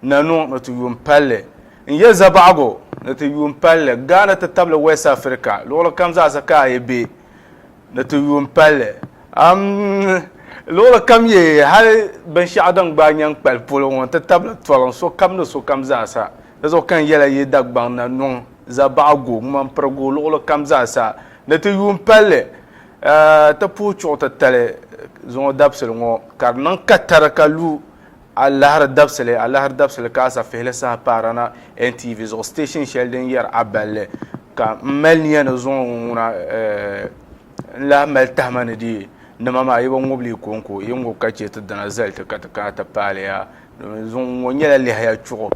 Na niŋ ni ti yuun palli. N yɛli zabaɣigu ni ti yuun palli. Ghana ti tabili West Africa luɣili kam zaasa ka a yi be ni ti yuun palli. Am, luɣili kam ye hali binshɛɣu din gbaai nyaŋ kpali polo ŋɔ n-ti tabili toliŋ sokam ni sokam zaasa. Di zuɣu ka n yɛla yi Dagbaŋ na niŋ zabaɣigu, ŋmanpirigu luɣili kam zaasa ni ti yuun palli ti puhi chuɣu titali zuŋɔ dabisili ŋɔ ka di niŋ katari ka lu Alahiri dabisili alahiri dabisili ka asafihili saha paara na NTV zuɣu station shɛli din yɛri Aballi ka m mali niya ni zuŋɔ ŋɔ ŋuna n lahi mali tahima ni di nima maa yi bi ŋubi li kɔŋko yi ŋubi ka chɛ ti dina zali ti ka ti kana ti paali ya zuŋɔ ŋɔ nyɛla lɛhiya chuɣu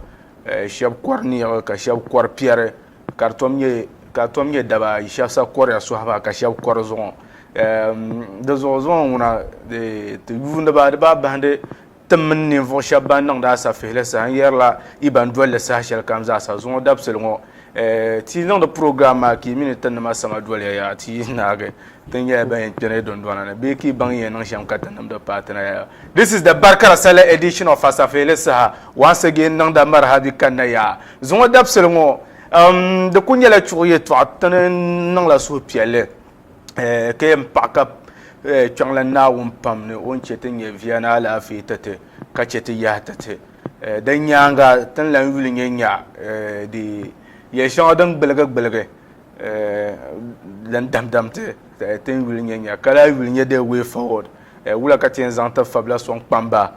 shɛba kɔri niɣi ka shɛba kɔri piɛri. Ka di tom nyɛ daba ayi, shɛb sa kɔriya sɔhi ba ka shɛb kɔri zuɣu. Di zuɣu zuŋɔ ŋuna ti yuuniba di baa bahindi ti mini ninvuɣu shɛb ban niŋdi asafihili saha n yɛrila yi ban doli li saha shɛli kam zaa sa. Zuŋɔ dabisili ŋɔ ti yi niŋdi program maa ka yi mi ni ti nima sama doliya yaa ti yi naagi. Ti nyɛla ban yɛn kpɛri ya dundɔna ni bee ka yi baŋ yɛn niŋ shɛm ka ti nimdi paai ti na ya. This is the Barkara Sallah edition of Asafeeli saha once again niŋda Marhabi kanna ya zuŋɔ dabisili ŋɔ. Um, di kuli nyɛla chuɣu yɛtɔɣa ti ni niŋla suhupiɛlli eh, ka yɛn paɣi ka eh, kpiɔŋla Naawuni pam ni o ni chɛ ti nyɛ viya ni alaafee ti ti ka chɛ ti yahi ti ti. Eh, din nyaaŋa ti ni lan yuli nyɛ nya eh, di yɛli shɛŋa din gbuligi gbuligi lan damdam ti tin yuli nyɛ nya, ka lahi yuli nyɛ the way forward, wula ka ti yɛn zaŋ ti fabila sɔŋ kpam ba,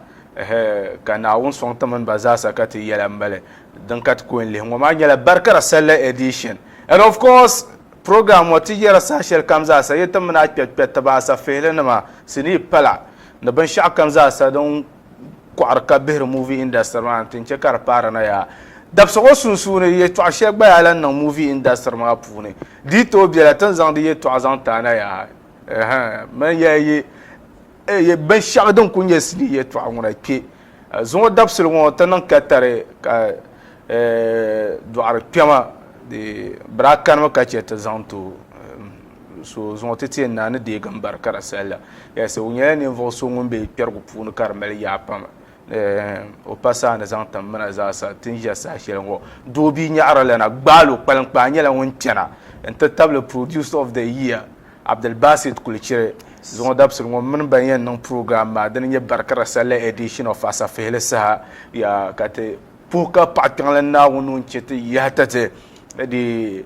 ka Naawuni sɔŋ ti mini ba zaasa ka ti yɛla m-bali. Din ka ti ku n-lihi ŋɔ maa nyɛla Barikara Sallah Edition. And of course, program ŋɔ ti yɛra saha shɛli kam zaasa yi ti mini a kpɛrikpɛritiba, a safehilinima, sinii pala, ni binshɛɣu kam zaasa din kɔɣiri ka bihiri movie industry maa nti n-chɛ ka di paari na yaa. Dabisi ŋɔ sunsuuni, yɛtɔɣ shɛli gba yaa lan niŋ movie industry maa puuni. Di yi tooi bela, ti ni zaŋ di yɛtɔɣ zaŋ ti a na yaa. Ɛhɛn, mani yaa yi yi binshɛɣu din kul nyɛ sinii yɛtɔɣ ŋuna kpe. Zuŋɔ dabisili ŋɔ ti niŋ katari ka dɔɣirikpɛma bee birakanima ka chɛ ti zaŋ ti o. So zuŋɔ ti tiɛ naa ni deegi m-bari ka di sahi la. Yes, o nyɛla ninvuɣu so ŋun be kpɛrigu puuni ka di mali yaa pam. Eh, o pa saha ni zaŋ tim mina zaasa ti ni ʒe saha shɛli ŋɔ. Doobi Nyaɣiri la na gbaal o kpaliŋkpaa nyɛla ŋun kpɛna n-ti tabili Producer of the Year, Abdulbasit Kulichiri. Zuŋɔ dabisili ŋɔ m mini ba yɛn niŋ program maa din nyɛ bari ka di sahi la edition of Asafihili saha. Yaa ka ti puhi ka paɣikpiɛŋlana Naawuni ŋun chɛ ti yaha tati di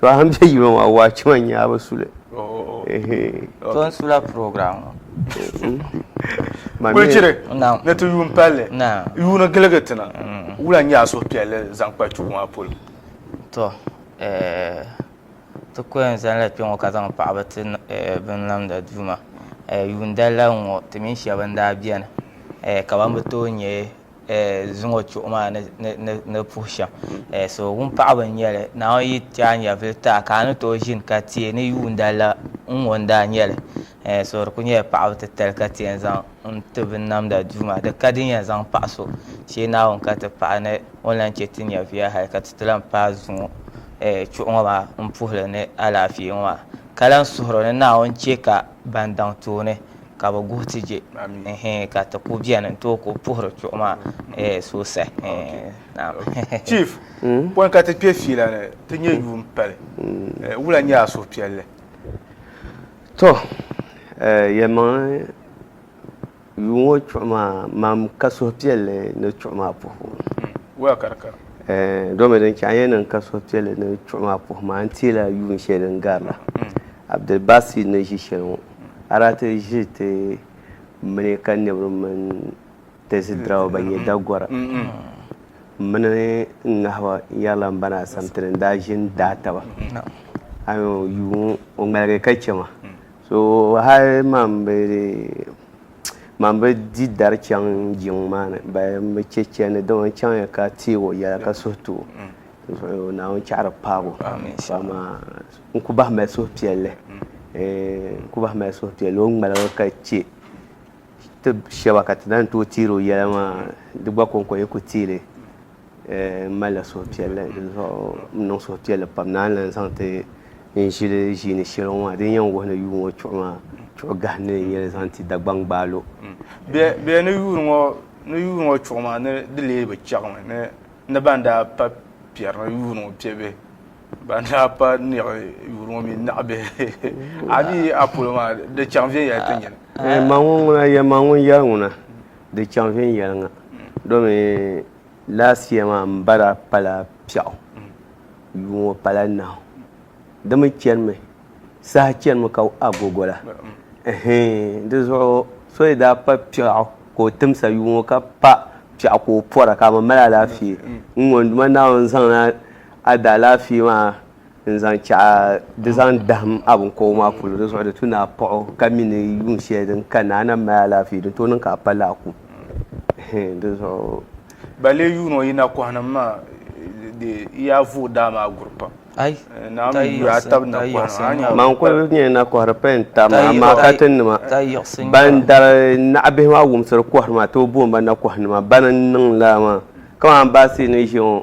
So a ni bɛ yino maa waachi maa nyɛ a bi su li. To n sula program ŋɔ. Wulichiri ni ti yuun palli yuuni giligi ti na wula n-nyɛ a suhupiɛlli zaŋ kpa tuhi maa polo? To eh, ti ko yɛn zani la kpɛŋɔ ka zaŋ paɣaba ti eh, binlamda Duuma. Eh, yuun dali la n-ŋɔ ti mini shɛba n-daa beni eh, ka ban bi tooi nyɛ zuŋɔ chuɣu maa ni puhi shɛm so wun paɣaba n nyɛli naan yi ti a nyɛvili taa ka a ni tooi ʒini ka tiɛ ni yuunda la n ŋɔ n daa nyɛli so di ku nyɛla paɣaba titali ka tiɛ n zaŋ n ti bi namda duu maa di ka di yɛn zaŋ paɣa so shee naawuni ka ti paɣa ni o ni lahi chɛ ti nyɛviya hali ka ti ti lahi paai zuŋɔ chuɣu ŋɔ maa n puhili ni alaafee ŋɔ maa ka lahi suhuri ni naawuni chɛ ka ban daŋ tooni ka bi guhi ti je ka ti ku beni n tooi ku puhiri chuɣu maa sosai chief hmm? pɔi ka ti kpe fiila ni ti nyɛ yuun pali hmm. wula nyɛ a suhupiɛlli to yɛlimaŋli Yuun ŋɔ chuɣu maa, mam ka suhupiɛlli ni chuɣu maa puhibu. Wɛl, ka di kara. Ɛɛn, domi din chɛ a yɛn niŋ ka suhupiɛlli ni chuɣu maa puhibu maa, n teela yuun shɛli din gari la. Abdulbasit ni ʒi shɛli ŋɔ, a daa ti ʒi ti mini ka nɛbiri mini tɛzi diriba ban nyɛ Dagora mini n ŋahiba yɛrila m-bana Asamtini n-daa ʒi n-daai taba. Ayo, yuun o ŋmaligi ka chɛ ma. So hal man bi man bi di dari chaŋ jiŋ maa ni ba n bi chɛ chɛndi dama n chaŋya ka teeg o yɛla ka suhu tu o Naawuni chɛɣiri paag o so amaa n ku bahi mali suhupiɛlli n ku bahi mali suhupiɛlli o ni ŋmaligi ka chɛ ti shɛba ka ti lahi ni tooi teeri o yɛla maa di gba kɔŋko yi ku teei li N malila suhupiɛlli dinzuɣu n niŋ suhupiɛlli pam ni a ni lan zaŋ ti n ʒili ʒiini shɛli ŋɔ maa. Din yɛn wuhi ni yuui ŋɔ chuɣu maa, chuɣu gahi ni n yɛli zaŋ ti Dagbaŋ Gbaalo. Bɛ ni yuui ŋɔ chuɣu maa ni di lee bi chɛɣimi ni ban daa pa piɛri ni yuui ŋɔ piɛbihi, ban daa pa niɣi yuui ŋɔ mi naɣibihi. A ni yi a polo maa, di chaŋ viɛnyɛla ti nyini. Maŋ ŋuna yɛri ŋuna, Di chaŋ viɛnyɛliŋga domi last year maa m ba daa pala piɛɣu yuui ŋɔ pala nahu di mi chanimi saha chanimi ka agogo la ɛhɛɛn di zuɣu so yi daa pa piɛɣu ka o timsa yuui ŋɔ ka pa piɛɣu ka o pɔra ka a ma mali alaafee n ŋɔ n Duuma Naawuni zaŋla a daalaafee maa n-zaŋ chaɣ di zaŋ dahim a biŋkɔbigu maa polo, di zuɣu di tu ni a paɣ o ka mi ni yuun shɛli din ka ni a na mali alaafee, din tooi niŋ ka a pa lahi ku. Di zuɣu. Ba lee yuun o yi nakɔhnim maa di yi a vuui daa maa guri pam. Naawuni yuui a tab nakɔhnim maa. Maa n-kuli nyɛ nakɔhiri payini tab maa, amaa katinnima ban dari naɣibihi maa wumsiri kɔhiri maa tooi booni ba nakɔhinima. Bana n-niŋ lala maa. Kamani baasi ni ʒiya ŋɔ,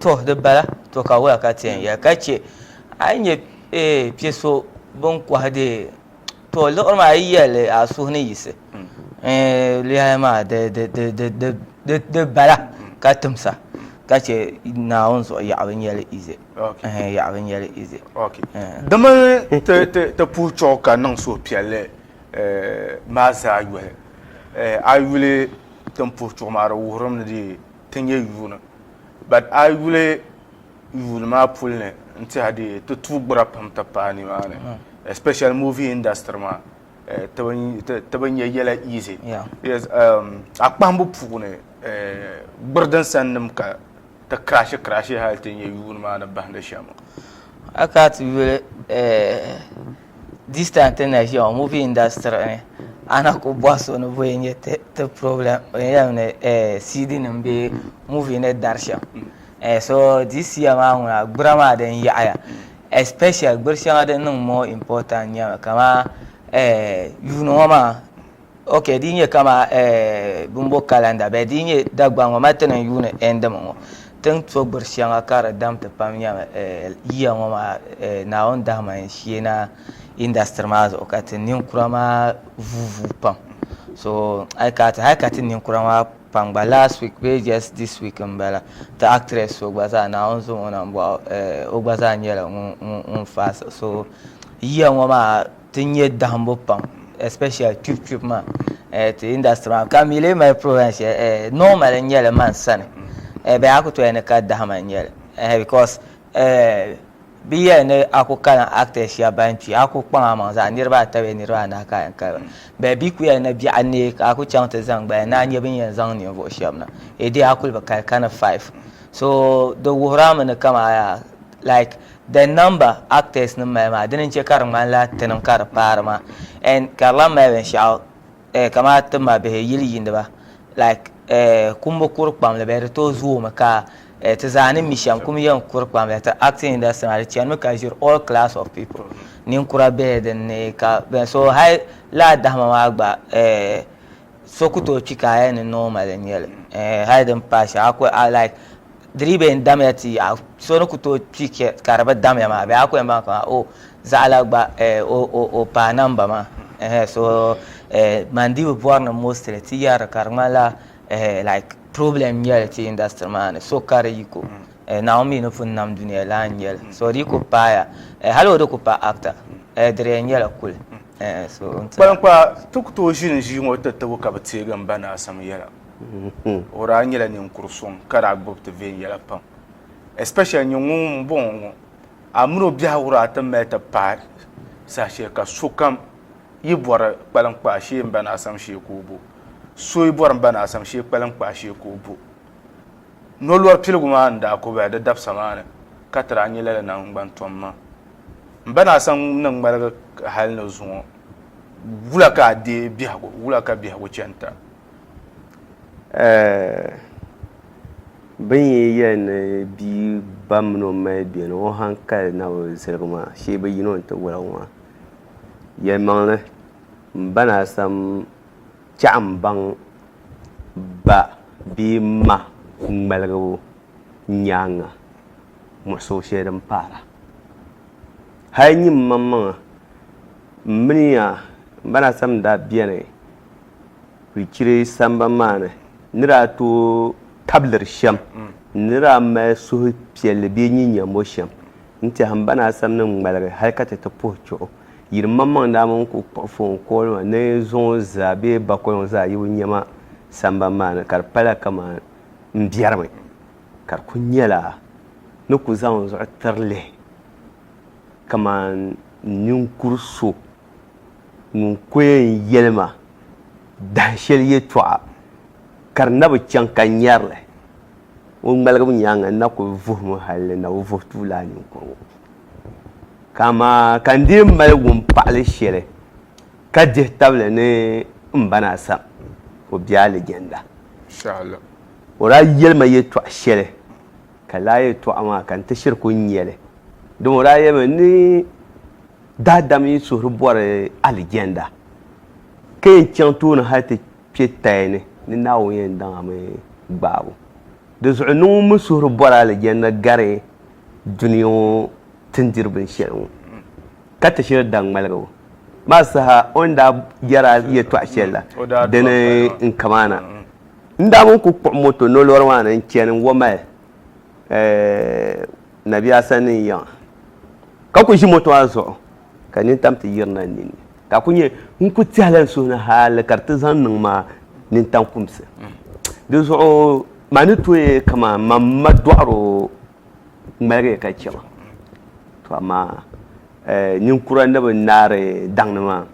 To di bala to ka wula ka tiɛn ya ka chɛ a yi nyɛ piɛ so bin kɔhi di to liɣiri maa yi yɛli a suhu ni yisi lihi maa di bala ka timsa ka chɛ naawuni zuɣu yaɣa bi nyɛli ize yaɣa bi nyɛli ize dama ti puhi chuɣu ka niŋ suhupiɛlli maa zaa yɔhi a yuli tin puhi chuɣu maa di wuhirimi ni dee ti nyɛ yuuni. But a yuli yuuni maa puli ni n tiɛha di ti tuui gbura pam ti paai nimaani especially movie industry maa ti bi nyɛ yɛla easy. Yes um a kpahimbu puuni gburi din sani nim ka ti crashi crashi hali ti nyɛ yuuni maa ni bahindi shɛm. A kana ti yuli This time ti na ʒiya ŋɔ movie industry ni a na ku bɔhi so ni bɔyi nyɛ ti ti problem o yɛn ni eh, CD nim bɛ movie ni dari shɛm mm. eh, so this year maa ŋuna gbura maa din yaɣaya especially gbiri shɛŋa din niŋ more important nyɛmi kama eh, yuuni ŋɔ maa ok di nyɛ kama eh, bimbo kalanda bɛ di nyɛ Dagbaŋ ŋɔ ma ti niŋ yuuni ɛndimi ŋɔ tin to gbiri shɛŋa ka di dam ti pam nyɛmi eh, yiya ŋɔ maa eh, Naawuni dahima n shee na industry maa zuɣu ka ti ninkura maa vuu vuu pam so ai ka ti hali ka ti ninkura maa pam gba last week bee just this week n bala ti actress so gba zaa Naawuni zaŋ o na n bɔɣi eh, o gba zaa nyɛla ŋun faasi so yiya ŋɔ maa Ti nyɛ dahimbu pam especially kpibu kpibu maa eh, ti industry maa ka mi lee mali province shɛli eh, eh, normal n nyɛli man sani eh, bɛ a ku toya ni ka dahima n nyɛli eh, because eh, bi yɛli ni a ku kalan actors shɛba ban kpi a ku kpaŋ a maŋ zaa niriba ata bee niriba anahi ka a yɛn kali ba bɛ bi ku yɛli ni biɛɣu neei ka a ku chaŋ ti zaŋ gbaya ni a nyɛ bin yɛn zaŋ ninvuɣu shɛba na e dee a kuli bi kali ka ni five so di wuhirami ni kama like the number actors nim mali maa dini n chɛ ka di ŋmanila tinim ka di paari maa and ka di lan mali binshɛɣu eh, kamani ti ma bihi yili yiiniba like eh, kumbu kuri kpamli bɛ di tooi zoomi ka eh, ti zaa ni mi shɛm kum yɛn kuri kpamli ti acting industry maa di chanimi ka ʒiri all class of people ninkura bihi din ni ka bɛn so hali laa dahima maa gba eh, so ku tooi kpi ka a yɛn ni normally nyɛli eh, hali din paai shɛŋa a ku a like di dii bi yɛn damiya ti yaɣa so ni ku tooi kpi ka di bi damiya maa bee a ku yɛn baŋ ka o zaɣala gba o paai namba maa so man dii bi bɔri ni mostly ti yɛri ka di ŋmanila like problem nyɛli ti industry maa ni so ka di yiko naawuni mi ni pun nam duniya lana nyɛli so di ku paaya hali o di ku pa actor di di yɛn nyɛla kuli kpaliŋkpaa ti ku tooi ʒini ʒii ŋɔ ti tibu ka bi teegi m ba ni Asam yɛla. O daa nyɛla ninkuri so ka daa gbubi ti viɛnyɛla pam especially nyɛ ŋun n bɔŋɔ ŋɔ a mini o biɛhi wuraa ti mali ti paai saha shɛli ka sokam yi bɔri kpaliŋ kpaa shee n ba ni Asam shee ka o bo so yi bɔri n ba ni Asam shee kpaliŋ kpaa shee ka o bo nolɔri piligu maa n daa ko bahi di dabisa maa ni ka ti daa nyɛ lala naŋgban tom maa n ba ni Asam ni ŋmaligi hali ni zuŋɔ wula ka a deei biɛhigu wula ka biɛhigu chani ta Bin yi yɛli ni bia ba mini o mali bɛ ni o hankali na bi ziligi maa shee bi yina o ni ti woligi maa yɛlimaŋli n ba ni asam chɛɣu n baŋ ba bee ma ŋmaligu nyaanga muɣisigu shɛli din paara hali nyin maŋmaŋa n miniya n ba ni asam daa biɛni Pichiri sambani maa ni ni daa tooi tablir shɛm ni ni daa mali suhupiɛlli bee nyin nyambo shɛm n-tɛhi m ba ni Asam ni ŋmaligi hal ka ti ti puhi chuɣu yi di maŋmaŋ daa mini ku kpuɣi foon kooli maa ni zuŋɔ zaa bee bakoliŋ zaa yi o nyɛma sambani maa ni ka di pala kaman m biɛrimi ka di ku nyɛla ni ku zaŋ n zuɣu tiri lihi kaman ninkur so. ŋun kul yɛn yɛli ma dahin shɛli yɛtɔɣa ka di na bi chaŋ ka nyari li, o ŋmaligimi nyaaŋa n-na kul vuhi mi hal di na bi vuhi tuui lala ninkuri ŋɔ. Ka amaa ka n dii mali wumpaɣili shɛli ka dihi tabili ni m ba na sam, o be alijanna. O daa yɛli ma yɛtɔɣ shɛli. Ka laa yɛtɔɣa maa ka n ti shiri ku nya li. Dama o daa yɛlimi ni daadam yi suhuri bɔri alijɛnda, ka yɛn chaŋ tooni hal ti kpe taya ni, ni Naawuni yɛn daŋ a mi gbaabu. Di zuɣu ni ŋun mi suhuri bɔri alijɛnda gari dunia ŋɔ tindiri binshɛli ŋɔ, ka ti shiri daŋmaligibu maa saha o ni daa yɛri a yɛtɔɣ shɛli la, dini n-kamaana. N daa mini ku kpuɣi moto nolori maa ni n-chani Wamale Nabia sani n-yiŋa ka ku ʒi moto maa zuɣu ka nini tam ti yirina n nini ka a ku nyɛ ŋun ku tɛhila n suhu ni hali ka di ti zaŋ niŋ ma nintaŋkumsi. Di zuɣu maa ni tooi kaman ma ma dɔɣiri o ŋmaligi ka chɛ ma. To amaa ninkura ni bi naari daŋ ni maa.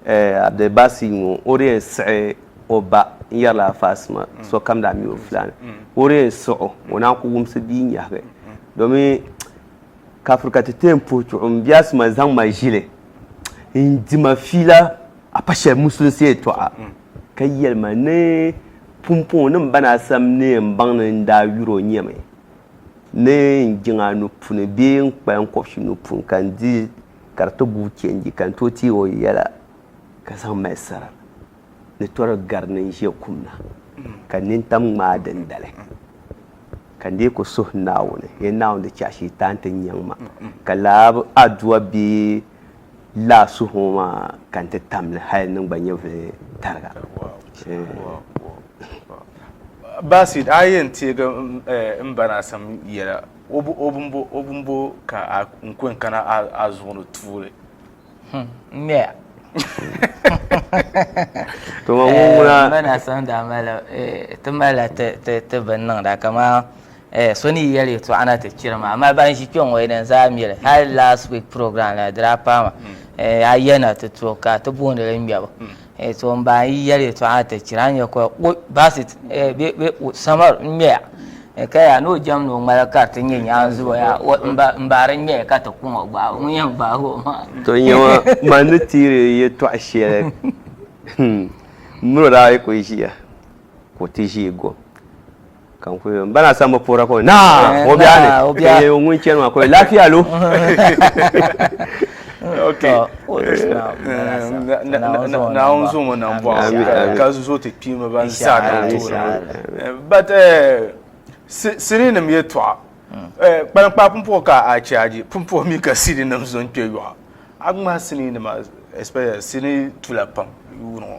Abdulbasi ŋɔ o di yɛn siɣi o ba n-yɛrila Faasima sokam daa mi o fulani. O di yɛn siɣ o, o naan ku wumsi bia nyɛhigi domi ka firi ka ti ti yɛn puhi chuɣu m biɛhisu ma zaŋ ma ʒili n-di ma fiila a pa shɛli musulinsi yɛtɔɣa ka yɛli ma ni pumpɔŋɔ ni m ba ni a sam ni yɛn baŋ ni n daa yuri o nyɛmi ni n jiŋ a nuu puuni bee n kpali n kɔbisi nuu puuni ka n di ka di ti guui kpɛnji ka n tooi teeg o yɛla ka zaŋ mali sara ni tɔri gari ni n ʒe kum na ka n nini tam ŋmaa dindali ka n dee ku suhi Naawuni, Yen Naawuni di chɛ Shiitaan ti nyaŋ ma, ka lala adua bee lala suhiŋɔ maa ka n ti tam li hal n gba nyɛvili tariga. Basit, a yi yɛn teeg m ba Naasim yɛla. O bo, o bimbo, o bimbo ka a n kɔŋ kana a, a zuɣu ni tuuli. Hmm, n ŋmɛya. To ma ŋun ŋuna. Eh, Mba na san daa mali, eh, ti malila ti, ti, ti bin niŋda kaman, eh, so ni yi yɛli yɛtɔɣa na ti chiri ma. Amaa ban ʒi kpe ŋɔ yi din zaa mi li. Hali last week program la di daa paai ma, hmm. eh, a ya na ti to ka ti booni li ŋmɛbu. Hmm. Eh, so n baa yi yɛli yɛtɔɣa ti chira n yɛ kɔya kpɔ basit eh, bɛ bɛ samar n ŋmɛya eh, ka yaa ni o jɛm ni o ŋmala ka ti nyɛ nyaanzi o yaa n baari n ŋmɛya ka ti kuŋ o gbaai ŋun yɛn gbaai o maa. to n yɛma man ni tiiri yɛtɔɣa shɛli hmm, mini o daa yi kuli ʒiya ka o ti ʒii gom. kan ku n bana san bi puhira ka naa o biɛɣu ni ka yɛ ŋun chɛni maa ka o lafiya lo naawuni zo ŋɔ nam bɔɣu ka zo ti kpiimba ban zaa kan toori but siri nim yɛtɔɣa kpalankpaa pumpuɣu ka a chaaji pumpuɣu mi ka siri nim zo n kpɛ yɔɣu a ŋmahi sinii nima especially sinii tula pam yuuni ŋɔ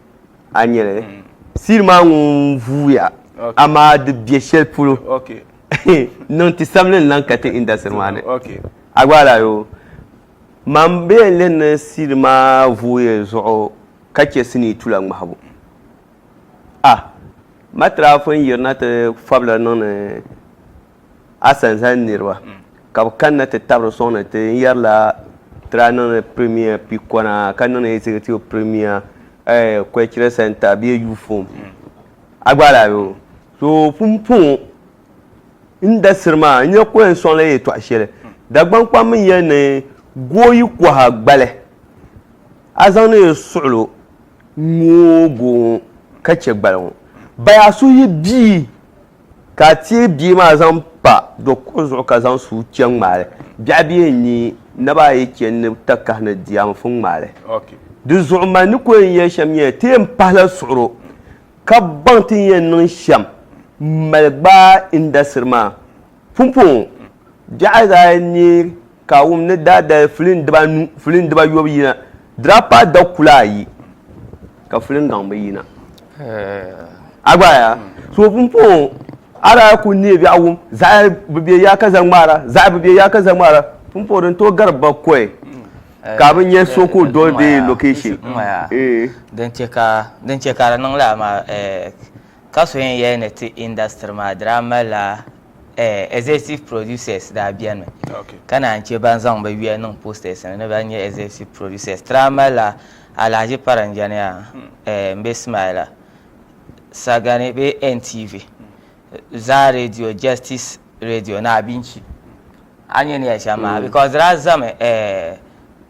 a nyɛli mm. siri maa ŋun vuuya amaa di bɛ shɛli polo niŋ ti sabili n lan ka ti indasiri maa ni a gba ala yo man bɛ yɛn lɛn ni siri maa vuuya zuɣu ka chɛ sinii tula ŋmahibu a ah, matirafin yirina ti fabila niŋni A sani zali niriba ka bɛ kanna ti tabiri n-sɔŋ ni ti yɛrila tira niŋdi Premier pikɔna ka niŋdi Executive Premier Cultural Centre bee Youth Home. A gba lahi be. So pumpɔŋɔ n dasiri maa n nya ka o yɛn sɔŋla yɛltɔɣ shɛli. Dagbaŋ kpam mi yɛli ni gooyi kɔha gbali a zaŋdi li suɣil o ŋ-ŋ o goo ŋɔ ka chɛ gbali ŋɔ. Baya so yi bia ka a teei bia maa zaŋ pa do kuɣu zuɣu ka zaŋ suu chɛ n-ŋmaai li. Biɛɣu bee n-ni naba ayi chɛ n ni ta kahi ni di a n fun ŋmaai li. Di zuɣu mani ni ku yɛn yɛli shɛm nyɛla ti yɛn pahi la suɣiro ka baŋ ti ni yɛn niŋ shɛm m-mali gbaai indasiri maa. Pumpɔŋɔ biɛɣu daa ni ka a wum ni daa dali filin dibanu, filin dibayobu yina, draapaa dakula ayi, ka filin gaŋbu yina. A gba ya? So pumpɔŋɔ a daa kuli neei biɛɣu wum, zaɣ bi be ya ka zaŋ ŋmaara, zaɣ bi be ya ka zaŋ ŋmaara, pumpɔŋɔ din tooi gari bakɔi ka a bi nya so ka o doli bɛ location. Din chɛ ka di niŋ lala maa, ka so yɛn yɛli ni ti industry maa daa malila eh, executive producers daa beni mi okay. ka naan che ban zaŋ bɛ yuya niŋ posters ni ni ban nyɛ executive producers ti daa mali la Alhaji Paranjani a hmm. eh, m-be Smaila Sagani bee NTV hmm. Zaa Radio Justice Radio ni Abinchi A nyɛ ni ya shɛm maa because di daa zami eh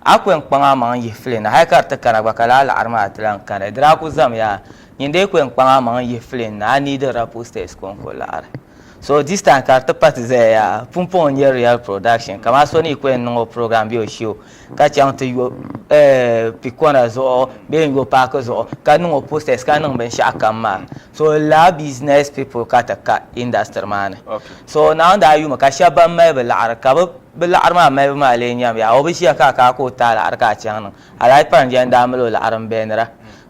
a ku yɛn kpaŋ a maŋ n yihi fili na hali ka di ti kana gba ka laa laɣiri maa ti lahi kani di daa ku zami yaa nyin dee ku yɛn kpaŋ a maŋ n yihi fili na a needi la pull steps ka o ku laɣiri so this time ka di ti pati zaya yaa pumpɔŋ n nyɛ real production kaman so ni yi ku yɛn niŋ o program bee o show ka chaŋ ti yo pikona zuɣu bee n yo paaki zuɣu ka niŋ o posters ka niŋ binshɛɣu kam maa so laa business people ka ti ka industry maa ni so naawuni daa yumi ka shɛba ban mali bi laɣiri ka bi bi laɣiri maa malibu maa lee nyam yaa o bi ʒiya ka a ka a ka o ti a laɣiri ka a chaŋ niŋ alahi parinjɛ n daa mali o laɣiri n bɛnira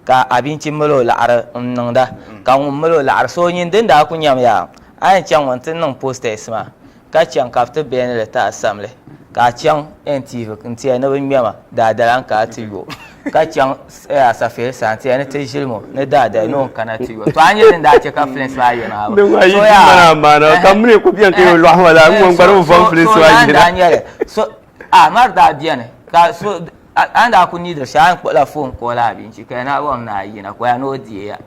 ka abinchi mali o laɣiri n niŋda ka ŋun mali o laɣiri so nyin din daa ku nyam yaa a yɛn chaŋ ŋɔ n ti niŋ posters maa Ka chaŋ ka bɛ ti beni li ti a samli, ka a chaŋ N tiivi n ti a ni bɛ ŋmɛma, daadala n ka a ti yo. Ka chaŋ a safeeli sani ti a ni ti ʒilim o, ni daadala ni o ni kana ti yo. To a nyɛ din daa chɛ ka Flint maa yɛn maa bi so yaa? Amaa di daa beni ka so a ni daa kuli niidiri shɛli a ni kpuɣila foon kɔɔl a bee n-chɛ ka ya ni a bɔŋ ni a yina ka o ya ni o deei ya.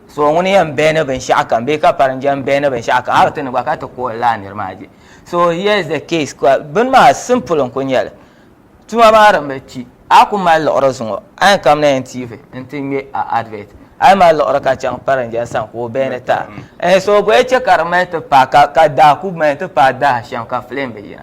so ŋuni yɛn bɛni binshɛɣu kam bee ka pari njɛm bɛni binshɛɣu kam hali ti ni gba ka ti kuɣi laa niri maa je so here is the case ka bini maa simple n kuli nyɛli tuma maa din bi kpi a ku mali liɣiri zuŋɔ a yɛn kamina yɛn tv n ti ŋmɛ a advert a yi mali liɣiri ka chaŋ pari njɛm sani ka o bɛni ta so bɔyi chɛ ka di mali ti paai ka daa ku mali ti paai daa shɛm ka filim bi yina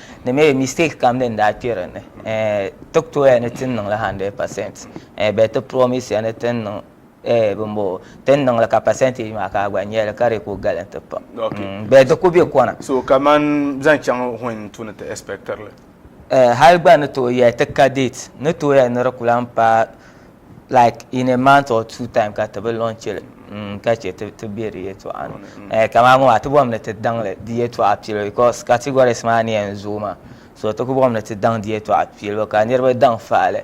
Di mi mistake kam din daa kpe din ni eh, ti ku tooi ya ni tin niŋli hundred percent eh, but ti promise ya ni tin niŋ eh, bin bɔ tin niŋli ka percentage maa ka a gba nyɛli ka di ku galim ti pam mm, but di ku bɛ kɔna. So kaman zaŋ chaŋ when n tu ni ti expectirli? Eh, hali gba ni tooi ya ti ka date, ni tooi ya ni di ku lahi paai. like in a month or two time ka ti bi lɔnchili mm, ka chɛ ti ti bɛ di yɛtɔɣa ni mm. eh, kamani ŋɔ maa ti bɔm ni ti daŋli di yɛtɔɣa piɛlli because categories maa ni yɛn zooi maa so ti ku bɔm ni ti daŋ di yɛtɔɣa piɛlli ka niriba daŋ faɣili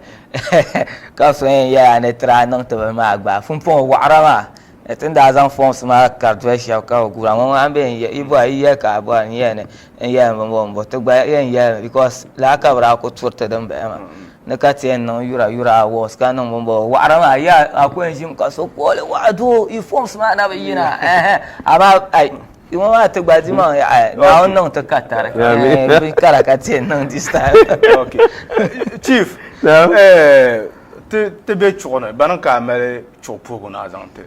ka so yɛn yɛla ni tira niŋ ti bini maa gbaai pumpɔŋɔ waɣira maa Ni tin daa zaŋ forms maa kari doli shɛba ka bɛ guura ŋɔ ŋɔ ambɛ n-yɛ yi bɔra yi yɛli ka a bɔra n-yɛli ni n-yɛli ni m-bo m-bo ti gba yɛn yɛli mi because lala ka bɛ daa kuli turi ti din bala maa ni ka ti yɛn niŋ yura yura awards ka niŋ bini bɔbi waɣiri maa yi a a ku yɛn ʒimi ka so kooli waɣa doo yi forms maa na bi yina ɛɛhɛ amaa ai yi ŋɔ maa ti gba di maŋ ya ai Naawuni niŋ ti ka tari ɛɛh bin kara ka ti yɛn niŋ this time. Chief ɛɛh ti ti be chuɣu ni bana ka a mali chuɣu puhigu ni a zaŋ ti.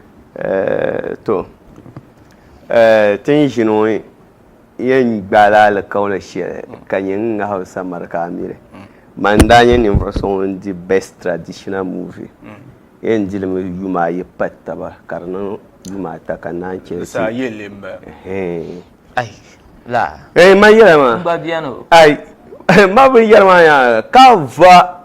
To, tin ʒini ŋɔ yɛn gbaala alikauli shɛli ka nyɛ n ŋahi o samara ka a miri. Man n daa nyɛ ninvuɣ so ŋun di Best Traditional Movie, yɛn di li mi yuma ayi pa taba ka di niŋ yuma ata ka naan chɛ ti. Saa yɛn leei m-bala. Ayi, laa. Eei, man yɛla maa. N gba beni o. Ayi, man binyɛra maa nya ka va.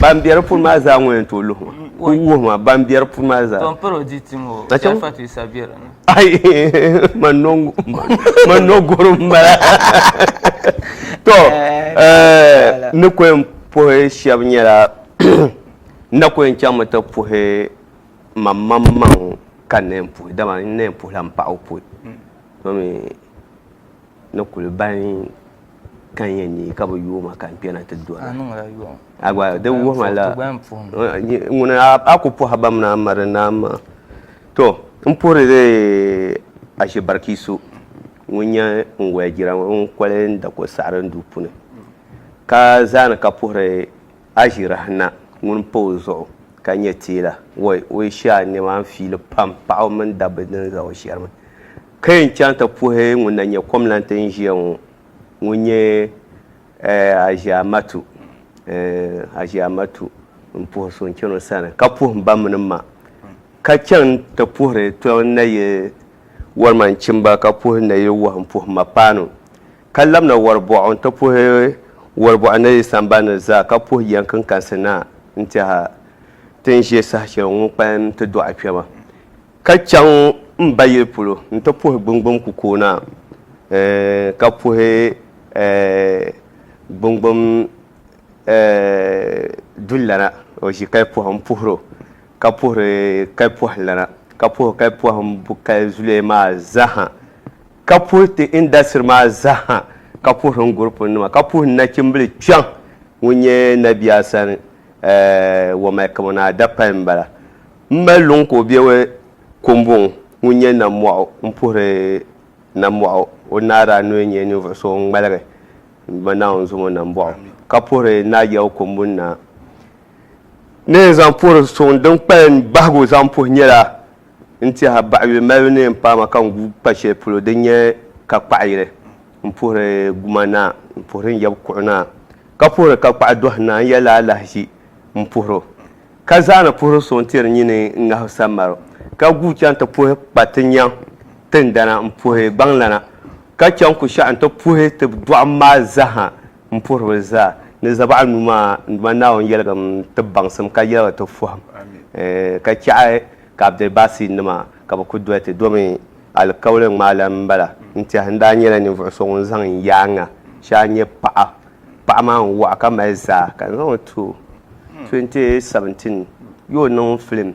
Ban bɛ di puuni maa zaa ŋɔ yɛn tooi luhi ma. Ku wuhi ma ban bɛ di puuni maa zaa. Tom paro di ti ŋɔ Na chɛm- Sharifat Isa bɛ di ni. Ai, ma nɔŋ- ma nɔ goro m-bala. To, eh, ni ku yɛn puhi shɛba nyɛla, n na ku yɛn chaŋmi ti puhi mammaŋmaŋ ka n na yɛn puhi, dama n na yɛn puhila m paɣa o pui. To mi ni kuli bahi Ka n yɛn neei ka bi yooi ma ka n kpɛna ti doli. A niŋla yɔɣu. A gba di wuhima la ŋuni a ku pɔhi ba mini a ma di naan maa. To n puhiri di ashi bariki so ŋun nyɛ n waya jira ŋɔ ŋun koli n da ko saɣiri n duu puni ka zaani ka puhiri Aʒirahi na ŋun pa o zuɣu ka nyɛ teela, woi, o yi shee a nɛma n fiili pam paɣaba mini dabba din za o shɛrimi. Ka yɛn chaŋ ti puhi ŋun na nyɛ kɔmlanti n ʒiya ŋɔ, ŋun nyɛ Aʒiamatu, eh, Aʒiamatu n puhi so n chani o sani, ka puhi m ba mini m ma. Ka chaŋ ti puhiri tɔbu n na yi wɔri ma n chimba, ka puhi n na yi wɔhi m puhi ma paanu. ka labina wari bɔɣu n-ti puhi wari bɔɣu ni yi sambani ni zaa ka puhi yiɛn kinkansi naa n-tɛha ti ni ʒe saha shɛli ŋun kpalim ti dɔɣi kpɛma ka chaŋ m ba yili polo n-ti puhi gbingbim kukooi naa ɛɛh ka puhi ɛɛh gbingbim ɛɛh dulana o ʒi kali pɔhim puhiri o ka puhiri kali pɔhilana ka puhi kali pɔhim bukali zuliya maa zaha. ka puhi ti indasitiri maa zaha, ka puhiri n gurupuni nima, ka puhi n nachimbili kpɛŋ ŋun nyɛ Nabi Asan Wamai Kamonaa dapali m bala. M mali luŋ ka o be Kombuŋ ŋun nyɛ Nammɔɣu m puhiri Nammɔɣu o ni daa nooi nyɛ ninvuɣu so ŋun ŋmaligi m ma Naawuni zumo Nambɔɣu, ka puhiri n daa Yawɛ Kombuŋ Naa. Ni n zaŋ puhiri suŋ din kpalim bahigu zaŋ puhi nyɛla. N tiɛha baɣiyuli malibu ni n paama ka n gu pa shɛli polo din nyɛ ka kpaɣa yili. N puhiri guma naa, n puhiri n yab kuɣu naa, ka puhiri ka kpaɣa dɔhi naa, n yɛli la alahiʒi m puhir o. Ka zaana puhiri so n-ti di nyini ŋahi sammar o, ka guui chaŋ ti puhi kpa ti nyaŋ tindana m-puhi gbaŋlana, ka chaŋ ku shɛɣu n-ti puhi ti dɔɣim maa zaha M puhiribili zaa ni zabɔɣu nuu maa n Duuma Naawuni yɛligim ti baŋsim ka yɛligi ti fɔhim ka chɛɣi ka Abdulbasir nima ka bɛ ku doli ti domi alikauli ŋmaa la m bala n tɛhi n daa nyɛla ninvuɣu so ŋun zaŋ n yaaŋa shee a nya paɣa paɣa maa n waɣa ka mali zaa ka n zaŋ o ti o 2017 yo niŋ film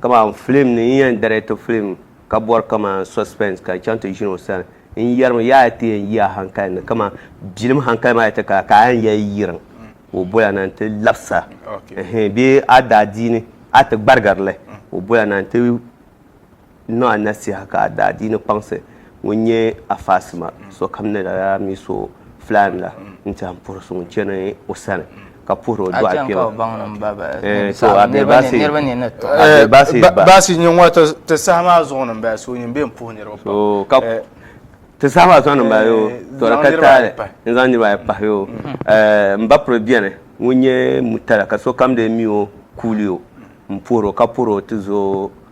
Kaman film ni n yɛn direct film ka bɔri kaman suspense ka n chaŋ ti ʒini o sani n yɛrimi yaa a ti yɛn yi a hankali ni kaman bilim hankali maa ti ka ka a yɛn yɛli yirim ka o boli a na n-ti labisi a ɛhɛn bee a daadiini a ti gbarigiri li o boli a na n-ti N niŋ a nasiha ka a daa diini kpaŋsi ŋun nyɛ a faasima sokam ni lala mi so filaan la n-tɛhi m-puhiri so ŋun chani o sani ka puhiri o dɔɣi kpɛma. Baasi nyini ŋɔ ti saha maa zuɣu ni m-bala so nyini bɛ yɛn puhi niriba pam. Ti saha maa zuɣu ni m-bala yoo tɔ di ka taali n zaŋ niriba ayi pahi yoo. M ba piri beni ŋun nyɛ Murtala ka sokam lee mi o kuuli o m-puhiri o ka puhiri o ti zo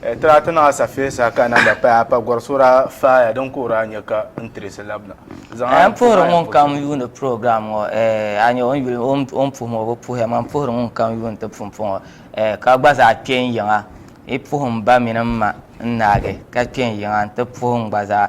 Tira ti naɣa safiya sa ka namba paya a pa gɔri sura faaya din kuhiri a nya ka n tirisi labina. Zaŋ a ni puhiri ŋunkam yuuni program ŋɔ a nya o ni yuli o ni puhim o bi puhiya man puhiri ŋunkam yuuni ti pumpɔŋɔ ka gba zaa kpe n yiŋa yi puhim ba mini m ma n naagi ka kpe n yiŋa n ti puhim gba zaa.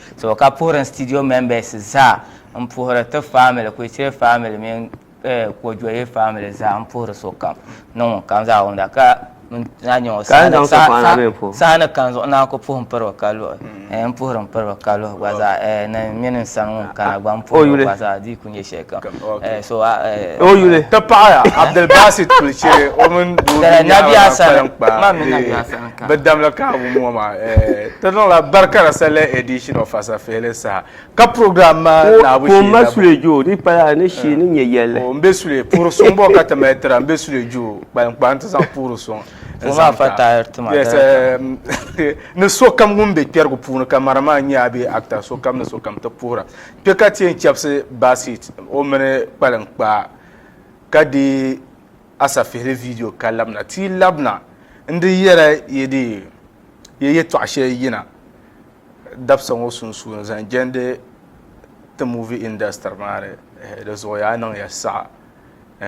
So ka puhiri n studio members zaa n puhiri ti family Kuichire family mini eh, Kojoye family zaa n puhiri sokam ni ŋun kam zaa wumda ka n na nyɛ o Ka n zaŋ saha- sokpaŋ na saha- bee puhi? saha ni kani zuɣu naan ku puhi n piri o ka luhi eh, n puhiri n piri o ka luhi gba zaa eh, ni mini n sani ŋun kana gba n O puhiri o yuli. gba zaa di O yuli ti paɣaya Abdulbasit Kulichere o mini doo din nyɛ Abadan kpalim kpa bɛ damli kaabu ŋɔ maa ti niŋla Barikara Sallah Edition of Asafihili saha ka program maa naabu shee labu o m be Sule puhiri suŋ bɔ ka ti mali tira m be Sule Jooh kpalim kpa n ti zaŋ puhiri suŋ ni sokam ŋun be kpɛrigu puuni ka Marima n-nyɛ a bee actor sokam ni sokam ti puhira Kpe ka ti yɛn chɛbisi Basit o mini kpaliŋ kpaa ka deei asafihili vidiyo Ka Labina Ti Yi Labina N Di Yɛra Yi Di Yɛ Yɛtɔɣa Shɛli Yina Dabisa Ŋɔ Sunsuuni zaŋ jɛndi ti movie industry maa ni di zuɣu yaa niŋya saɣa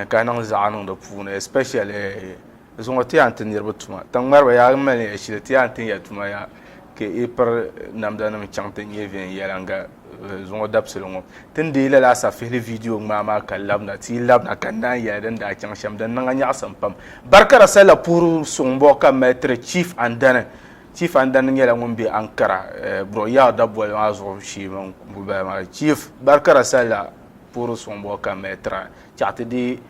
ka niŋ zaɣa niŋ di puuni especially Zuŋɔ ti yɛn ti niriba tuma. Tiŋmariba yaa yi mali ya shili ti yɛn tin ya tuma yaa ka yi piri namdanima chaŋ ti nyɛ viɛnyɛliŋga zuŋɔ dabisili ŋɔ. Ti ni deei lala asafihili viidiyo ŋmaa maa ka labina ti yi labina ka n naan yɛli din daa chaŋ shɛm din niŋ a nyaɣisim pam. Barikara salila puhiri suŋ bɔ ka n mali tiri Chief Andani. Chief Andani nyɛla ŋun be Ankara Bro Yao daboli maa zuɣu shee mini kumbubali maa. Chief Barikara salila puhiri suŋ bɔ ka n mali tira chaɣi ti deei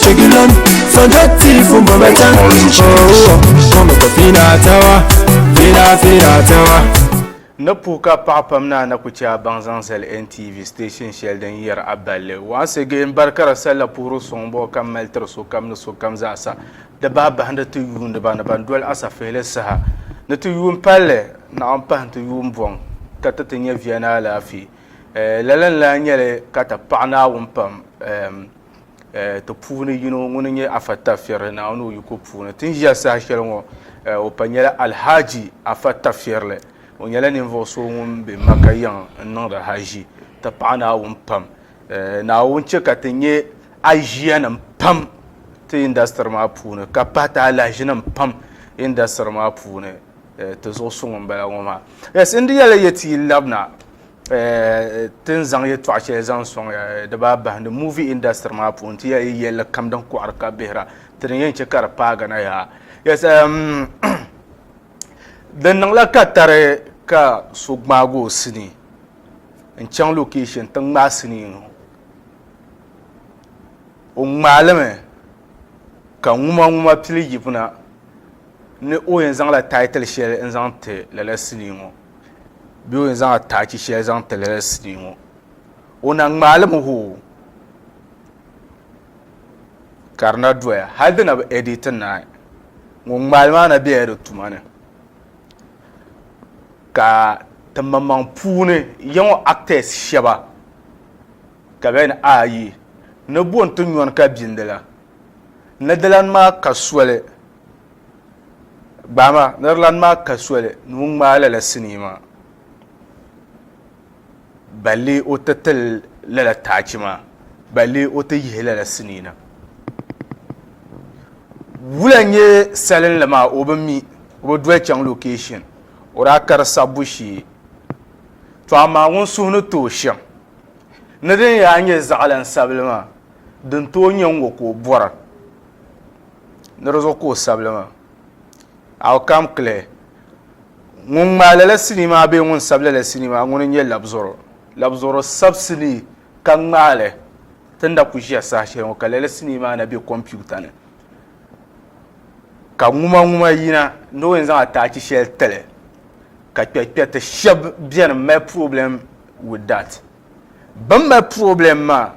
Chegilon, so dirty from Babatan. Oh, mama ko fina tawa, fina fina tawa. Ni puhi ka paɣa pam naa na ku chɛ a baŋ zaŋ zali NTV station shɛli din yɛri a balli. Once again, bari ka di salila puhiri suŋ bɔbu ka mali tiri sokam ni sokam zaɣisa. Di bahi bahindi ti yuuniba ni ban doli asafihili saha ni ti yuun palli naɣ m-pahi nti yuun bɔŋ ka ti ti nya via ni alaafee. Eh, lala n-lahi nyɛli ka ti paɣi Naawuni pam. Ehm. Ti puuni yino ŋuni n nyɛ Afa Tafirli Naawuni o yiko puuni. Ti ni ʒiya saha shɛli ŋɔ o pa nyɛla Alhaji Afa Tafirli. O nyɛla ninvuɣu so ŋun be Makka yiŋ n niŋdi Hajji. Ti paɣi Naawuni pam. Naawuni chɛ ka ti nyɛ aʒiyanim pam ti indasitiri maa puuni ka pahi ti alahiʒinim pam indasitiri maa puuni. Ti zuɣu suŋ m bala ŋɔ maa. Yes n di yɛli yɛti yi labina Ti ni zaŋ yɛtɔɣ shɛli zaŋ sɔŋ ya di baa bahindi muuvi indasitiri maa puuni ti ya yi yɛlli kam din kɔɣiri ka bihira ti ni yɛn chɛ ka di paagi na yaa. Yes, um, di niŋla ka tari ka so gbaagi o sinii n-chaŋ location ti ŋmaai sinii ŋɔ. O ŋmaalimi ka ŋumaŋuma pili yibina ni o yɛn zaŋla title shɛli n-zaŋ ti lala sinii ŋɔ. bɛ o yɛn zaŋ ataachi shɛli zaŋ ti lala sinii ŋɔ o na ŋmaali mi hoo ka di na doya hali di na bi editi naai ŋun ŋmaali maa na bela di tuma ni ka timaŋmaŋ puuni yiŋɔ actors shɛba ka bɛ ni ayi ni bo n-ti nyɔni ka bindi la nadalani maa ka soli Gbaai maa, Netherlands maa ka soli ni o ŋmaai lala sinii maa balli o ti tili lala taachi maa balli o ti yihi lala sinii na. Wula n-nyɛ salinli maa o bi mi, o bi doli chaŋ location, o daa kari sabbu shee. To amaa ŋun suhu ni tooi shɛm ni din yaa nyɛ zaɣilin sabili maa, din tooi nyɛ n-ŋɔ ka o bɔra. ni di zuɣu ka o sabili maa. Outcome clear. Ŋun ŋmaai lala sinii maa bee ŋun sabi lala sinii maa ŋuni n-nyɛ labzoro. Labzoro sabi sinii ka ŋmaai li ti na ku ʒiya saha shɛli ŋɔ ka lala sinii maa na be kompiuta ni ka ŋumaŋuma yina ni o yɛn zaŋ ataachi shɛli ti li ka kpɛrikpɛriti shɛba beni m-mali problem with that. Bɛn mali problem maa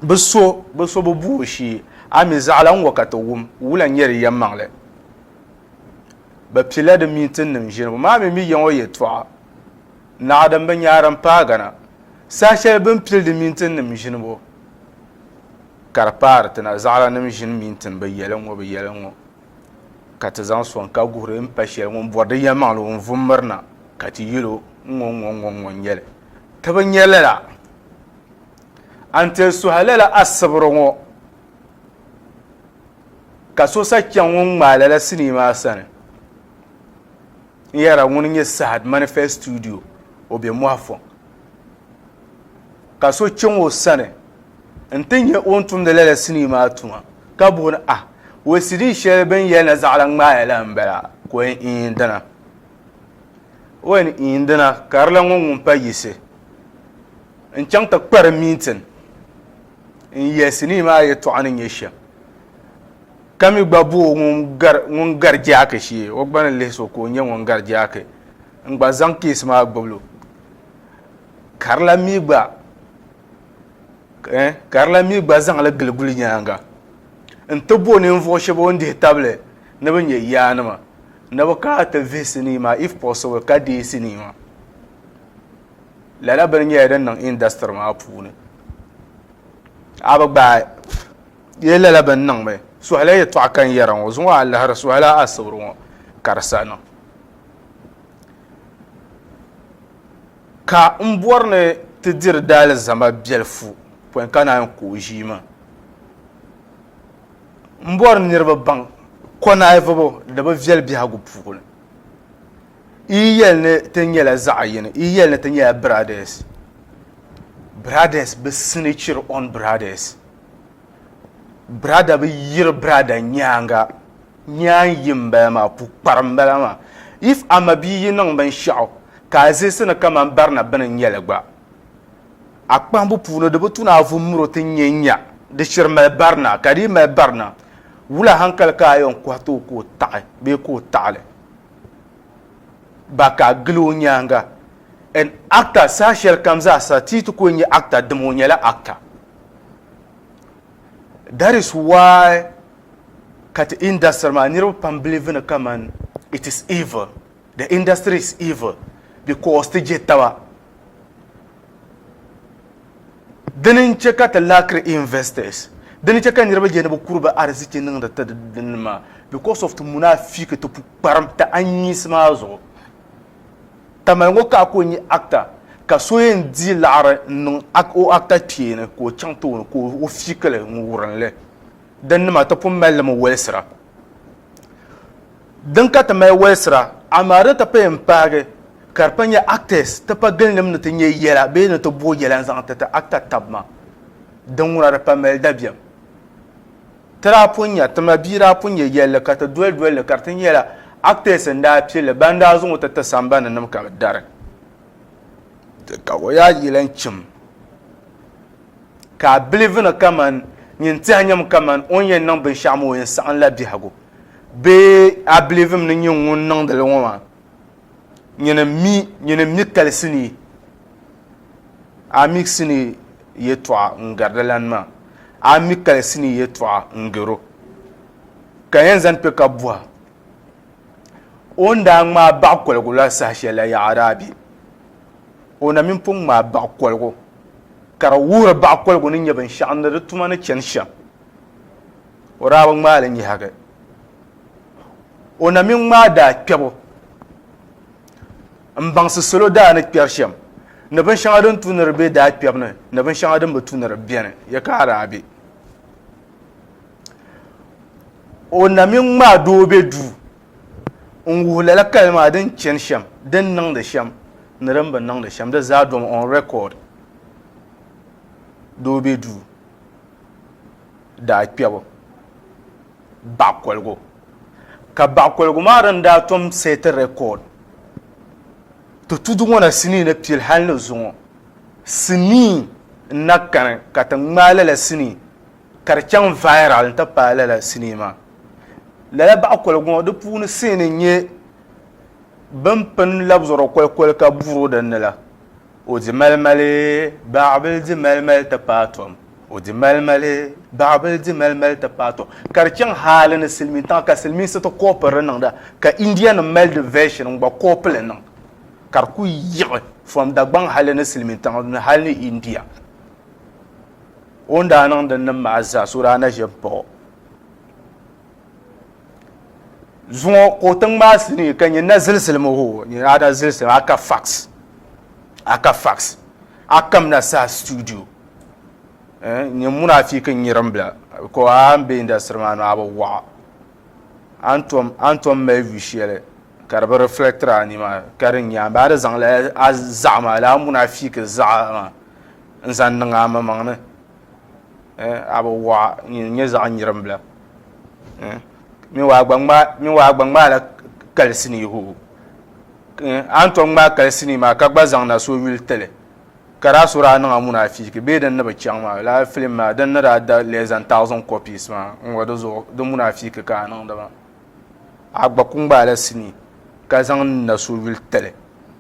bɛ so bɛ so bi bu o shee, a mi zaɣila n-ŋɔ ka ti wum wula n-nyɛ di yɛmmaŋli. Bɛ pilila di mintinnim ʒiribu maa mi mi yaŋɔ yɛtɔɣa naɣa din bi nyaari m-paagi na. Saha shɛli bɛ ni pili di mintinnim ʒinibu ka di paari ti na, zaɣilanim ʒini mintin bi yɛli n-ŋɔ bi yɛli n-ŋɔ. ka ti zaŋ sɔŋ ka guhiri n pa shɛli ŋun bɔri di yɛlimaŋli ŋun vum mirina ka ti yɛl o n ŋɔ ŋɔ ŋɔ ŋɔ n nyɛli ti bi nyɛ lala a ni ti suhi lala asibiri ŋɔ ka so sa chaŋ ŋun ŋmaai lala sinii maa sani N yɛra ŋuni nyɛ Sahad Manifest Studio, o be Mɔɣifɔŋ. Ka so chaŋ o sani nti nya o ni tumdi lala sinii maa tuma, ka buɣi ni, Ah, wee sidii shɛli bɛ ni yɛli ni zaɣila ŋmaa ya la m-bala? Ka o yɛn, Iin dina. O yɛn, Iin dina, ka di lan ŋɔ ŋun pa yiɣisi. N chaŋ ti kpari mintin n-yɛli sinii maa yɛtɔɣa ni nyɛ shɛm. Ka mi gba bo ŋun gari jaaki shee, o gba ni lihi so ka o nyɛ ŋun gari jaaki n-gba zaŋ keesi maa gbibilo. Karila mi gba eh, Karila mi gba zaŋ li gili gulinyaanga n-ti bo ninvuɣu shɛba o ni dihi tabili ni bɛ nyɛ yaanima ni bɛ kana ti vihi sinii maa if possible ka deei sinii maa. Lala bini nyɛla din niŋ industry maa puuni. A bi gbaai. Yee lala bɛn niŋ mi suhila yɛtɔɣa ka n yɛra ŋɔ zuŋɔ a lahiri suhila a asibiri ŋɔ ka di saha niŋ. Ka n bɔri ni ti diri daalizama biɛlifu pɔin ka naai ku o ʒii maa. M bɔri niriba baŋ kɔnaayivibu di bi viɛli biɛhigu puuni. Yi yɛli ni ti nyɛla zaɣ yini, yi yɛli ni ti nyɛla biradɛs, biradɛs bi sinichiri ɔn biradɛs. brada bi yiri brada nyaanga nyaan yi n bala maa pu kpari n bala maa if ama bi yi niŋ binshaɣu ka a zisi ni kaman barina bini n nyɛli gba a kpahimbu puuni di bi tu ni a vu muro ti nyɛ nya di shiri mali barina ka di yi mali barina wula hankali ka a yɛn kɔhi tooi ka o taɣi bee ka o taɣili ba ka a gili o nyaanga and actor saha shɛli kam zaasa ti yi ti ku nyɛ actor dim o nyɛla actor that is why ka ti industry maa niriba pam believe ni kaman it is evil the industry is evil because ti je taba dini n che ka ti lackiri investors dini che ka niriba je ni bi kuri bi ariziki niŋdi ti dini maa because of ti munafiiki ti pukparim ti anyinsi maa zuɣu Tamale ŋɔ ka a ku nya Akta, ka so yɛn dii laɣiri n-niŋ o Akta kpee ni ka o chaŋ ti o ni ka o fiik li ŋun wurin li. Din nima ti pun mali li mi walisira. Din ka ti mali walisira, amaa di ti pahi m-paagi ka di pa nya Aktas ti pa gilinim ni ti nya yɛla bee ni ti bo yɛla n-zaŋ ti ti Akta tab ma. Din ŋuna di pa mali dabiɛm. Ti daa pun nya, ti ma bia daa pun nya yɛlli ka ti doli doli li ka di ti nyɛla actors n-daa pili li ban daa zaŋ o ti ti sambani nim ka bɛ dari. Ka o yaa yi lan chim ka a bilivi ni kaman nyin tɛhi nyam kaman o ni yɛn niŋ binshɛɣu maa o yɛn saɣim la biɛhigu bee a bilivim ni nyin ŋun niŋdi li ŋɔ maa Nyini mi, nyini mi kalisi ni a miɣisi ni yɛtɔɣa n-gari di lan maa, a mi kalisi ni yɛtɔɣa n-gar o, ka yɛn zani kpe ka bɔhi o ni daa ŋmaai baɣ koligu la saha shɛli la yaɣa daa be? O na mini pun ŋmaai baɣ koligu, ka di wuhiri baɣ koligu ni nyɛ binshɛɣu ni di tuma ni chani shɛm. O daa bi ŋmaai li nyɛhigi. O na mini ŋmaa daa kpɛbu m-baŋsi salo daa ni kpɛri shɛm ni binshɛŋa din tu ni di be daa kpɛbu ni ni binshɛŋa din bi tu ni di beni, ya ka a daa be? O na mini ŋmaa doo be duu n-wuhi lala kali maa din chani shɛm, din niŋdi shɛm ni din bi niŋdi shɛm, di zaa domi on record, doo be duu. daa kpɛbu baɣ koligu, ka baɣ koligu maa din daa tom set record ti tudu ŋɔ na sinii ni pili hal ni zuŋɔ sinii n-na kani ka ti ŋmaai lala sinii ka di chaŋ viral n-ti paai lala sinii maa. Lala baɣ koligu ŋɔ di puuni seeni n-nyɛ bɛn pini labzɔrɔ kolikoli ka buri o din ni la O di malimali, baɣibil di malimali ti paai tom. O di malimali, baɣibil di malimali ti paai tom. Ka di chaŋ hali ni silimiintiŋa ka silimiinsi ti koopi di niŋda, ka Indianim mali di version n-gba koopi li niŋ, ka di kuli yiɣi from Dagbaŋ hali ni silimiintiŋa ni hali ni India. O ni daa niŋ dinnim maa zaa so daa na ʒe m-paɣ o. zuŋɔ ka o tiŋ maa sinii ka nyɛ na zilisili mo ho nyɛ ada zilisili aka fax aka fax akam na saha studio eh, nyɛ munafiki nyirim bila ko a n bɛ industry maa no a bi waɣa an tom mali vi shɛli ka di bi reflector a nima ka di nyɛ ba di zaŋ la a zaɣa maa la a munafiki zaɣa maa n zaŋ niŋ a mamaŋ ni eh, a bi waɣa nyɛ zaɣa nyirim bila Min waa gba ŋmaa min waa gba ŋmaa la kalisi ni hoo an tom ŋmaa kalisi ni maa ka gba zaŋ na so yuli tili ka daa so daa niŋa muna fiiki bee din ni bi chaŋ maa la filim maa din ni daa da less than thousand copies maa n ŋɔ di zuɣu di muna fiiki ka a niŋdi maa a gba ku ŋmaa la sinii ka zaŋ na so yuli tili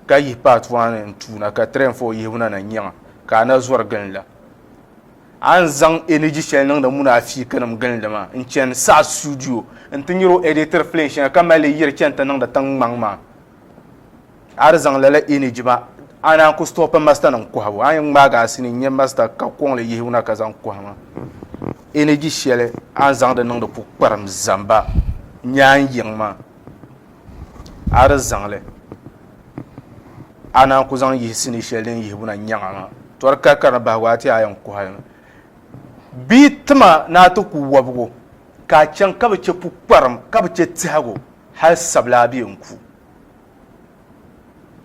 ka yihi part one n tuuna ka three and four yihibu na na nyɛŋa ka a na zɔri gili la A ni zaŋ energy shɛli niŋdi muna afiikanim gilindi maa n-chani saha studio nti nyari o editiri film shɛŋa ka mali li yiri chani ti niŋdi tiŋgbɔŋ maa. A di zaŋ lala energy maa a naan ku stop masternim kɔhibu. A yɛn ŋmaagi a sini n-nyɛ master ka kɔŋ li yihi wuna ka zaŋ kɔhi ma. Energy shɛli a ni zaŋdi niŋdi pukparim zamba n-nyɛ a ni yiŋ maa. a di zaŋli a naan ku zaŋ yihi sinii shɛli din yihibu na nyaŋa maa tɔri kari kari ni bahigu a ti a yɛn kuhali mi bia tima ni a ti ku wɔbigu ka a chaŋ ka bi chɛ pukparim ka bi chɛ tihigu hali sabila a bɛ yɛn ku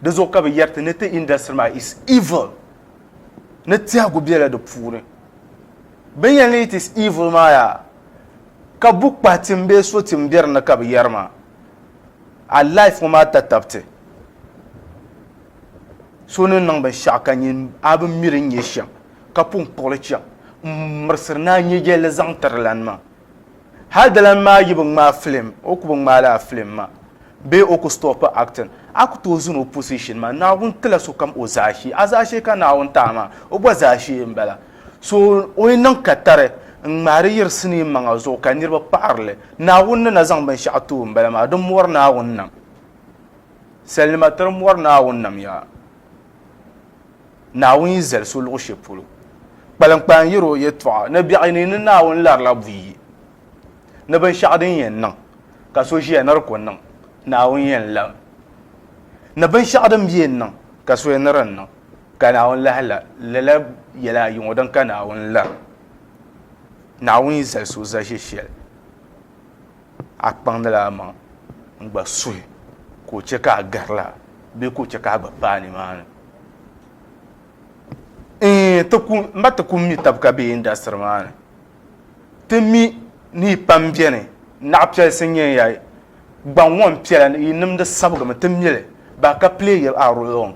di zuɣu ka bi yɛri ti ni ti industry maa is evil ni tihigu bɛla di puuni bin yɛn ni it is evil maa yaa Ka bu kpahi tim bee so tim be di ni ka bi yɛri maa? A life ŋɔ maa tatabiti. So ni niŋ binshɛɣu ka nyin a bi miri n-nyɛ shɛm, ka pun kpuɣili chaŋ m-mirisiri ni a nyɛjɛlli zaŋ tiri lan maa. Hal di lan maa yi bi ŋmaai film, o ku bi ŋmaai lala film maa bee o ku stɔpi acting, a ku tooi zuni o position maa. Naawuni tila sokam o zaashee. A zaashee ka Naawuni ti a maa, o gba zaashee m-bala. So o yi niŋ katari n-ŋmahi di yiri sinii maŋa zuɣu ka niriba paɣiri li, Naawuni ni na zaŋ binshɛɣu ti o m-bala maa, di mɔri Naawuni nam. Salinima tiri mɔri Naawuni nam yaa. Naawuni yi zali so luɣ shɛli polo, kpaliŋkpaa n-yɛri o yɛtɔɣa ni biɛɣu ni ni Naawuni larila buyi ni binshɛɣu din yɛn niŋ ka so ʒiya ni di ku niŋ, Naawuni yɛn lami ni binshɛɣu din bi yɛn niŋ ka so yɛn ni di niŋ. Ka Naawuni lahi la, lala yɛla ayi ŋɔ din ka Naawuni la, Naawuni yi zali so zaʒe shɛli, a kpaŋdila a maŋ n-gba suhi ka o chɛ ka a garila bee ka o chɛ ka a gba paai nimaani. Ɛɛn, ti ku, m ba ti ku mi tab ka be indasitiri maa ni. Ti mi ni yi pam beni, naɣ piɛlisi n-nyɛ ya. Gbaŋ ŋɔ m-piɛla, yi nimdi sabigimi, ti mi li. Ba ka pili ya a rulɔŋ.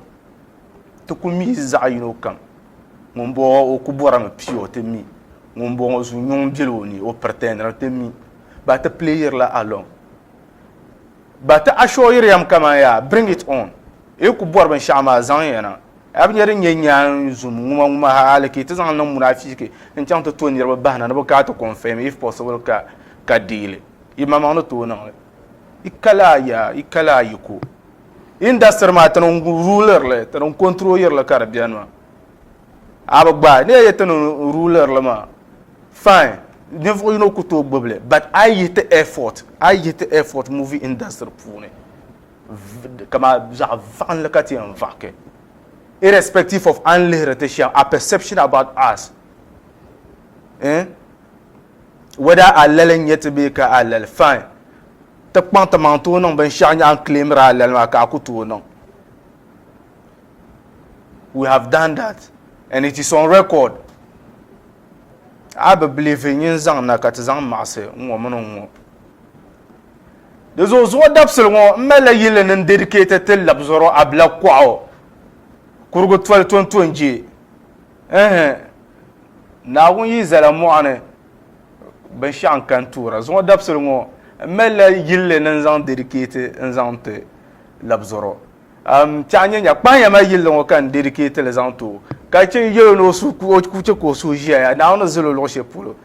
Ti ku mi zaɣ yino kam. Ŋumbɔŋɔ o ku bɔrimi pia o ti mi. Ŋumbɔŋɔ zu nyuŋ beli o ni o pretendiri ti mi. Ba ti playirila along. Ba ti assureiri yam kaman yaa bring it on. Yi ku bɔri binshɛɣu maa zaŋ ya na. A bi nya din nyɛ nyaan zum ŋuma ŋuma ha hali ka yi ti zaŋ niŋ munafiiki n-chaŋ ti to niriba bahi na ni bɛ gaa ti confirm if possible ka ka deei li. Yimaŋmaŋ ni tooi niŋ li. Yi kali a ya, yi kali a yiko. industry maa tini rulirli tini control yirli ka di biɛni maa a bi gbaai ni ye tini rulirli maa fine ninvuɣu yino ku tooi gbubili but a yi yihi ti airport a yi yihi ti airport movie industry puuni kama zaɣ vaɣinli ka ti yɛn vaɣiki irrespective of an lihiri ti shɛm a perception about us eh? whether alali n nyɛ ti bee ka alali fine ti kpaŋ ti maŋ tooi niŋ binshaɣu nyaɣa n claimira alali maa ka a ku tooi niŋ we have done that and it is on record a bi believe n yin zaŋ na ka ti zaŋ maɣasi n ŋɔ mini n ŋɔ di zuɣu zuɣu dabisili ŋɔ n malila yili ni n dedicate ti labzɔro abila kɔɣu kurugu toli tontonjee Ɛɛh! Naawuni yi zala mɔɣu ni, binshɛɣu n-kani tuura. Zuŋɔ dabisili ŋɔ, m malila yilli ni n-zaŋ dedicate'i n-zaŋ ti labizɔrɔ. N-tiɛhi n-nyɛ nya, kpahimiya mali yilli ŋɔ ka n dedicate'i li zaŋ ti o, ka chɛ n-yɛl o ni o suhu ka o chɛ ka o suhu ʒiɛya. Naawuni ni zali o luɣ shɛli polo.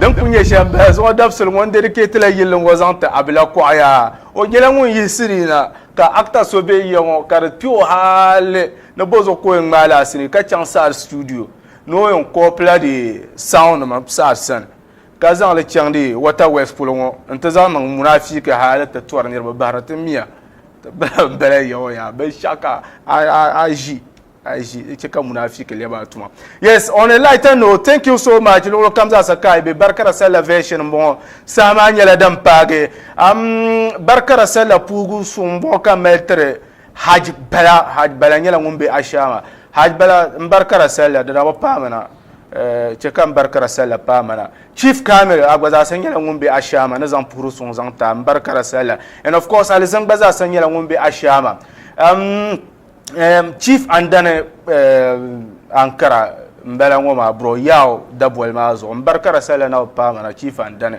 Din kuli nyɛ shɛm bala zuɣu dabisili ŋɔ n-dɛdikɛtila yilli ŋɔ zaŋ ti Abila Kuɣaya o nyɛla ŋun yiɣisi ni na ka akita so be yiya ŋɔ ka di kpe o hali ni bɔzuɣu ka o yɛn ŋmaai li asiri ka chaŋ saad situdiyo ni o yɛn kɔɔpila di saɔn nima saad sani ka zaŋ li chaŋdi Wata West polo ŋɔ n-ti zaŋ niŋ munaafiki hali ti tɔri niriba bahiri ti miya. Bala yawa yaa binshɛɣu ka a ʒi a ʒi di chɛ ka munaafiki lɛbi a tuma. Yes, on a lighter note, thank you so much luɣili kam zaasa ka a be Barikara Sallah version m-bɔŋɔ. Saha maa nyɛla din paagi. Am Barikara Sallah puhigu suŋ m-bɔŋɔ ka mali tiri Hajj Bala. Hajj Bala nyɛla ŋun be Ashaama. Hajj Bala m Barikara Sallah di daa bi paami na. eh, chɛ ka m bari ka di salila paai mana. Chief Kamil, a gba zaasa nyɛla ŋun be Ashama ni zaŋ puhiri suŋ zaŋ taai m bari ka di salila. And of course, Alizin gba zaasa nyɛla ŋun be Ashama. Um, um, Chief Andani uh, Ankara m-bala ŋɔ maa, bro, Yao daboli maa zuɣu. M bari ka di salila na bi paai mana, Chief Andani.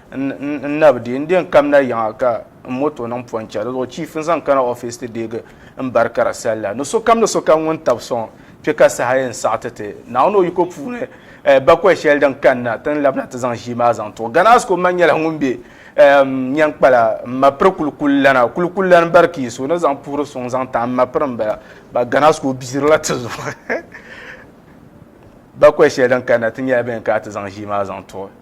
N nab deei n deei n kamina yiŋa ka n moto niŋ pɔncha di zuɣu chief n zaŋ kana office ti deegi n bari kara salla ni sokam ni sokam ŋun tab sɔŋ kpe ka saha yɛn saɣi ti ti Naawuni o yiko puuni eh, bakɔi shɛli din kanna ti ni labina ti zaŋ ʒii maa zaŋ tuɣi Gana Asko man nyɛla ŋun be ehm, Nyɛnkpala m ma piri kulikuli lana kulikuli lani bari kii so ni zaŋ puhiri suŋ zaŋ tahi m ma piri m bala ba Gana Asko biirila ti zuɣu bakɔi shɛli din kanna ti nyɛla bɛ ni kana ti zaŋ ʒii maa zaŋ tuɣi